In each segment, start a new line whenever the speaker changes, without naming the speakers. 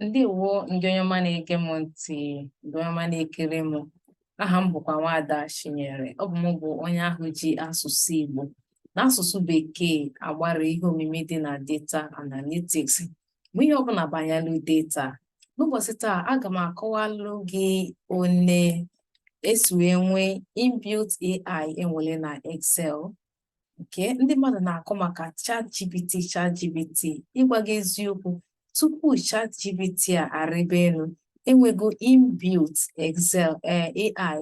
ndeewo ndị onye ọma na-ege m ntị ndị onye ọma na-ekiri m aha m bụkwa nwaada Chinyere ọ bụ m bụ onye ahụ ji asụsụ Igbo na asụsụ bekee agbara ihe omimi dị na data analytics ma ihe ọbụla banyalụ data n'ụbọchị taa aga m akọwalụ gị one esi wee nwee inbuilt AI enwere na Excel okay ndị mmadụ na-akọ maka ChatGPT ChatGPT ịgwa gị eziokwu tupu ChatGPT a arịba elu enwego inbuilt Excel eh, AI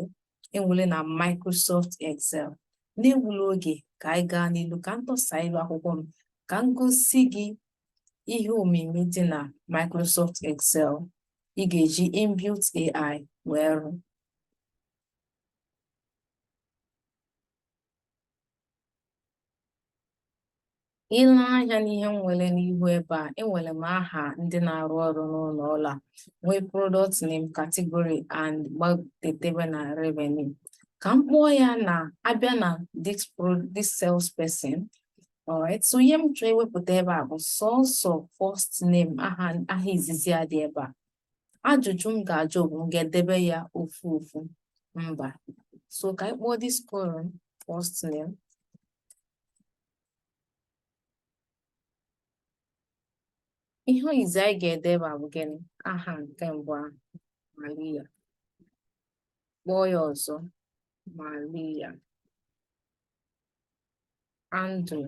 enwere na Microsoft Excel n'egbula oge ka anyị gaa n'ilu ka m dọsa ilu akwụkwọ m ka m gosi gị ihe omimi dị na Microsoft Excel ị ga-eji inbuilt AI wee rụọ Ile anya n'ihe m nwere n'ihu ebe a, enwere m aha ndị na-arụ ọrụ n'ụlọ ọrụ a, nwee product name, category and gbadetebe na revenue. Ka m kpọọ ya na a bịa na this pro this salesperson. Alright, so ihe m chọọ iwepụta ebe a bụ sọsọ first name aha aha izizi a dị ebe a. Ajụjụ m ga-ajụ bụ m ga-edebe ya ofu ofu mba so ka anyị kpọọ this column first name ihe izizi anyị ga-edeba bụ gịnị aha nke mbụ ahụ Maria kpọọ ya ọzọ Maria Andrew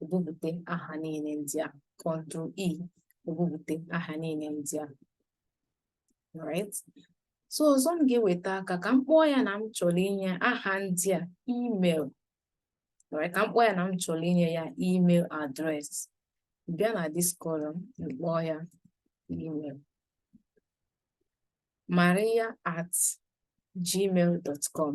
o bubute aha niile ndị ahụ control E o bubute aha niile ndị ahụ right so ọzọ m ga-eweta aka ka m kpọọ ya na m chọrọ inye aha ndị a email right ka m kpọọ ya na m chọrọ inye ya email address bịa na this column kpọọ ya email maria at gmail.com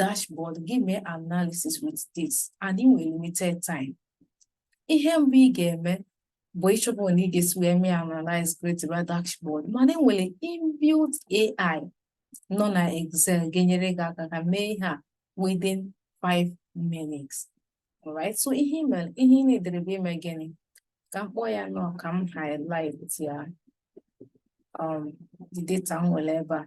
dashboard gị mee analysis with this and ị nwere limited time ihe mbụ ị ga-eme bụ ịchọpụ na ị ga-esi wee mee analyze create a dashboard mana enwere inbuilt AI nọ na Excel ga-enyere gị aka ka ị mee ihe a within 5 minutes alright so ihe ị needịrị bụ ime gịnị ka m kpọọ ya na ka m highlight ya um the data m nwere ebe a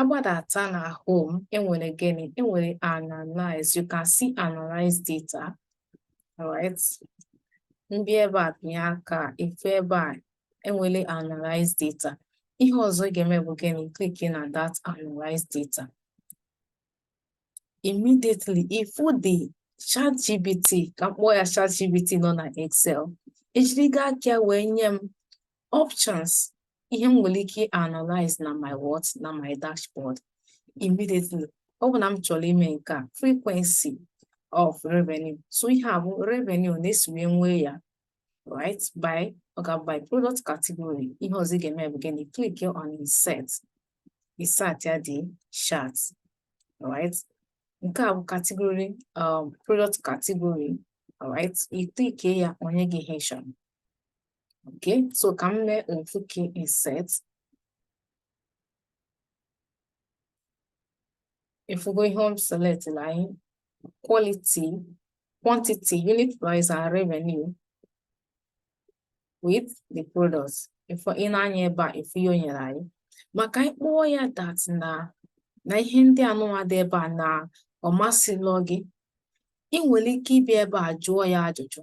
a gbadata na home enwere gịnị enwere analyze you can see analyze data right ndị ebe a binye aka ife ebe a enwere analyze data ihe ọzọ ị ga-eme bụ gịnị click na that analyze data immediately ị fụ the ChatGPT ka m kpọọ ya ChatGPT nọ na Excel ejirigo aka ya wee nye m options ihe m nwere ike analyze na my what na my dashboard immediately ọ bụ na m chọrọ ime nke a frequency of revenue so ihe a bụ revenue na-esi wee nwee ya right by ọ ga-abụ by product category ihe ọzọ ị ga-eme bụ gịnị click on insert insert ya the chart right nke a bụ category um, product category right ị click ya o nye gị ihe ị chọrọ okay so ka m mee ofu insert ị fụgo ihe m select na anyị quality quantity unit price and revenue with the products if i nee anya ebe a ị fụ ihe o nyere anyị ma ka anyị kpọọ ya that na na ihe ndị anụnwa dị ebe a na ọ masịlọ gị ị nwere ike ịbịa ebe a jụọ ya ajụjụ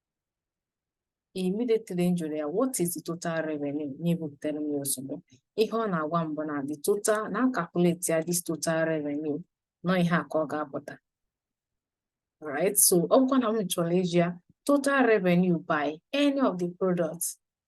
immediately m jụrụ ya what is the total revenue ya ebupụtara m ya ozugbo ihe ọ na-agwa m bụ na the total na a calculate ya this total revenue na ọ ihe a ka ọ ga-apụta right so ọ bụkwa na m chọrọ ịsị ya total revenue by any of the products